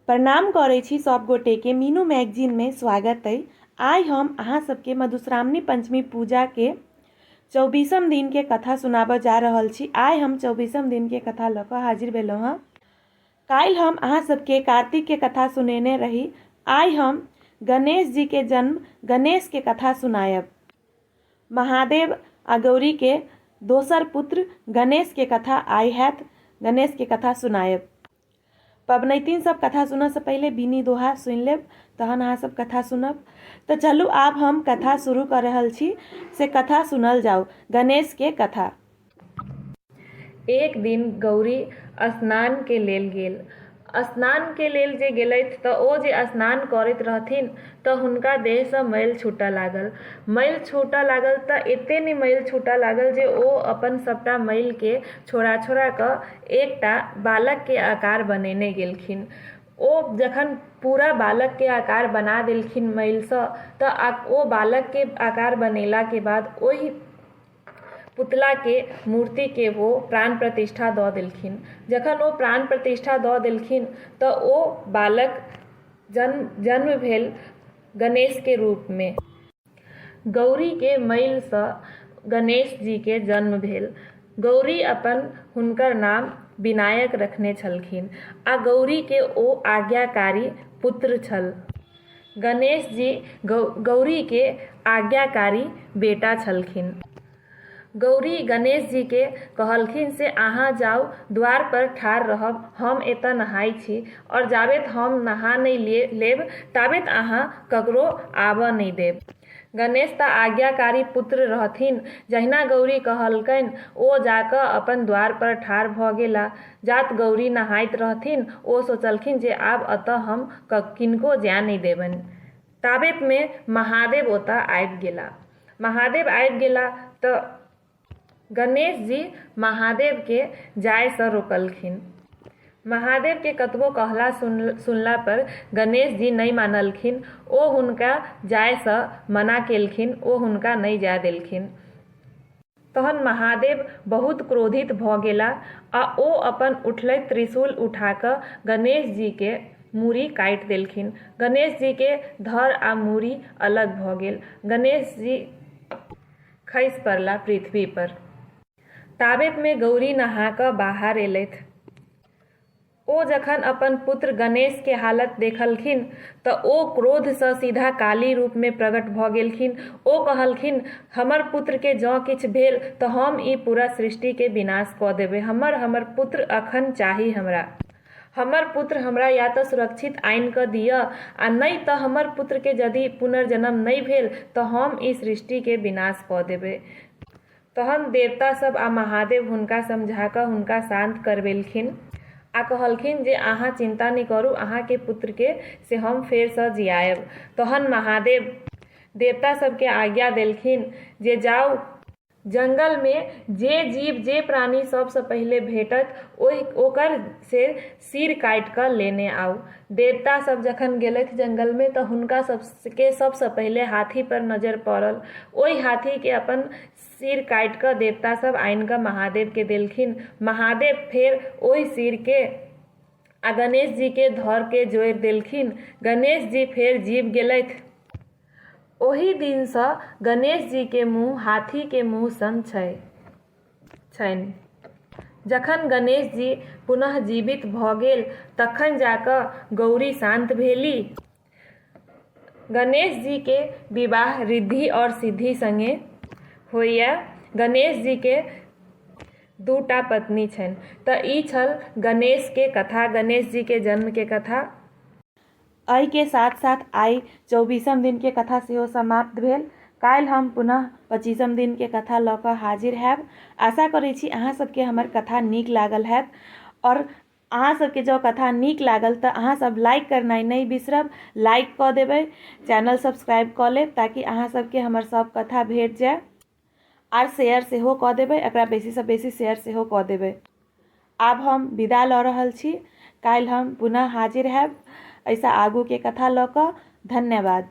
प्रणाम करै छी सब गोटे के मीनू मैगजीन में स्वागत अइ आइ हम अहाँ सबके मधुश्रावणी पंचमी पूजा के चौबीसम दिन के कथा सुनाबऽ जा रहल छी आइ हम चौबीसम दिन के कथा लऽ कऽ हाजिर भेलहुँ हँ काल्हि हम अहाँ सबके कार्तिक के कथा सुनेने रही आइ हम गणेश जी के जन्म गणेश के कथा सुनायब महादेव आ गौरी के दोसर पुत्र गणेश के कथा आइ हैत गणेश के कथा सुनायब पबनैतिन सब कथा सुनऽ से पहिले बीनी दोहा सुनि लेब तहन अहाँ सब कथा सुनब तऽ चलू आब हम कथा शुरू कऽ रहल छी से कथा सुनल जाउ गणेश के कथा एक दिन गौरी स्नान के लेल गेल स्नान के लेल जे गेलथि तऽ ओ जे स्नान करैत रहथिन तऽ हुनका देह सँ मैल छूटऽ लागल मैल छूटऽ लागल तऽ एते ने मैल छूटऽ लागल जे ओ अपन सबटा मैल के छोड़ा छोड़ा कऽ एकटा बालक के आकार बनेने गेलखिन ओ जखन पूरा बालक के आकार बना देलखिन मैल सऽ तऽ ओ बालक के आकार बनेला के बाद ओहि पुतला के मूर्ति के ओ प्राण प्रतिष्ठा दऽ देलखिन जखन ओ प्राण प्रतिष्ठा दऽ देलखिन तऽ ओ बालक जन्म जन्म भेल गणेश के रूप मे गौरी के मइल सँ गणेश जी के जन्म भेल। गौरी अपन हुनकर नाम विनायक रखने छलखिन आ गौरी के ओ आज्ञाकारी पुत्र छल। गणेश जी गौरी के आज्ञाकारी बेटा छलखिन। गौरी गणेशजीकेँ कहलखिन से अहाँ जाउ, द्वारपर ठाढ़ रहब, हम एतए नहाइ छी। और जाबेत हम नहा नै लेब ताबेत अहाँ ककरो आबए नै देब। गणेश तँ आज्ञाकारी पुत्र रहथिन। जहिना गौरी कहलकैन ओ जा कऽ अपन द्वारपर ठाढ़ भऽ गेला। जात गौरी नहाइत रहथिन ओ सोचलखिन जे आब एतए हम किनको जाए नै देबैन। ताबेतमे महादेव ओतऽ आबि गेला महादेव आबि गेला तऽ गणेश जी महादेवके जायसँ रोकलखिन महादेवके कतबो कहला सुन सुनला पर गणेश जी नहि मानलखिन ओ हुनका जायसँ मना केलखिन ओ हुनका नहि जाय देलखिन तहन महादेव बहुत क्रोधित भऽ गेला आ ओ अपन उठलैत त्रिशूल उठा कऽ गणेश जी के मूड़ी काटि देलखिन। गणेश जी के धड़ आ मूड़ी अलग भऽ गेल। गणेश जी खसि पड़ला पृथ्वी पर। ताबेत मे गौरी नहा कऽ बाहर एलथि। ओ जखन अपन पुत्र गणेश के हालत देखलखिन त ओ क्रोध सँ सीधा काली रूप मे प्रगट भ गेलखिन। ओ कहलखिन, हमर पुत्र के जँ किछु भेल त हम ई पूरा सृष्टि के विनाश क देबय। हमर हमर पुत्र अखन चाही हमरा। हमर पुत्र हमरा या त सुरक्षित आनि क दिय आ नञि त हमर पुत्र के जदि पुनर्जन्म नञि भेल त हम ई सृष्टि के विनाश क देबय। तहन देवता सभ आ महादेव हुनका समझा कऽ हुनका शान्त करबेलखिन आ कहलखिन जे अहाँ चिन्ता नहि करू अहाँ के पुत्र के से हम फेर सँ जियाएब। तहन महादेव देवता सभ के आज्ञा देलखिन जे जाउ। जंगल मे जे जीव जे प्राणी सभ सँ पहिले भेटत ओहि ओकर से सिर काटि कऽ लेने आउ। देवता सभ जखन गेलथि जंगल मे त हुनका सभ केँ सभ सँ पहिले हाथी पर नजर पड़ल। ओहि हाथी केँ अपन सिर काटि कऽ देवता सभ आनि कऽ महादेव केँ देलखिन। महादेव फेर ओहि सिर केँ आ गणेश जी केँ धड़ केँ जोड़ि देलखिन। गणेश जी फेर जीब गेलथि। ओहि दिन सँ गणेश जी केँ मुँह हाथी केँ मुँह सन छै। छनि। जखन गणेश जी पुनः जीवित भऽ गेल तखन जा कऽ गौरी शान्त भेली। गणेश जी के विवाह ऋद्धि और सिद्धि संगे होइए। गणेश जी के दू टा पत्नी छनि। तऽ ई छल गणेश के कथा, गणेश जी के जन्म के कथा। अइ के साथ-साथ आइ चौबीसम दिन के कथा सेहो समाप्त भेल। काल्हि हम पुनः पच्चीसम दिन के कथा लऽ कऽ हाजिर हएब। आशा करै छी अहाँ सब के हमर कथा नीक लागल हएत। आओर अहाँ सब के जँ कथा नीक लागल तऽ अहाँ सब लाइक करनाइ नहि बिसरब। लाइक कऽ देबै। चैनल सब्सक्राइब कऽ लेब ताकि अहाँ सब के हमर सब कथा भेट जाए। आर शेयर सेहो कऽ देबै एकरा बेसीसँ बेसी शेयर सेहो कऽ देबै आब हम विदा लऽ रहल छी काल्हि हम पुनः हाजिर हैब एहिसँ आगूके कथा लऽ कऽ धन्यवाद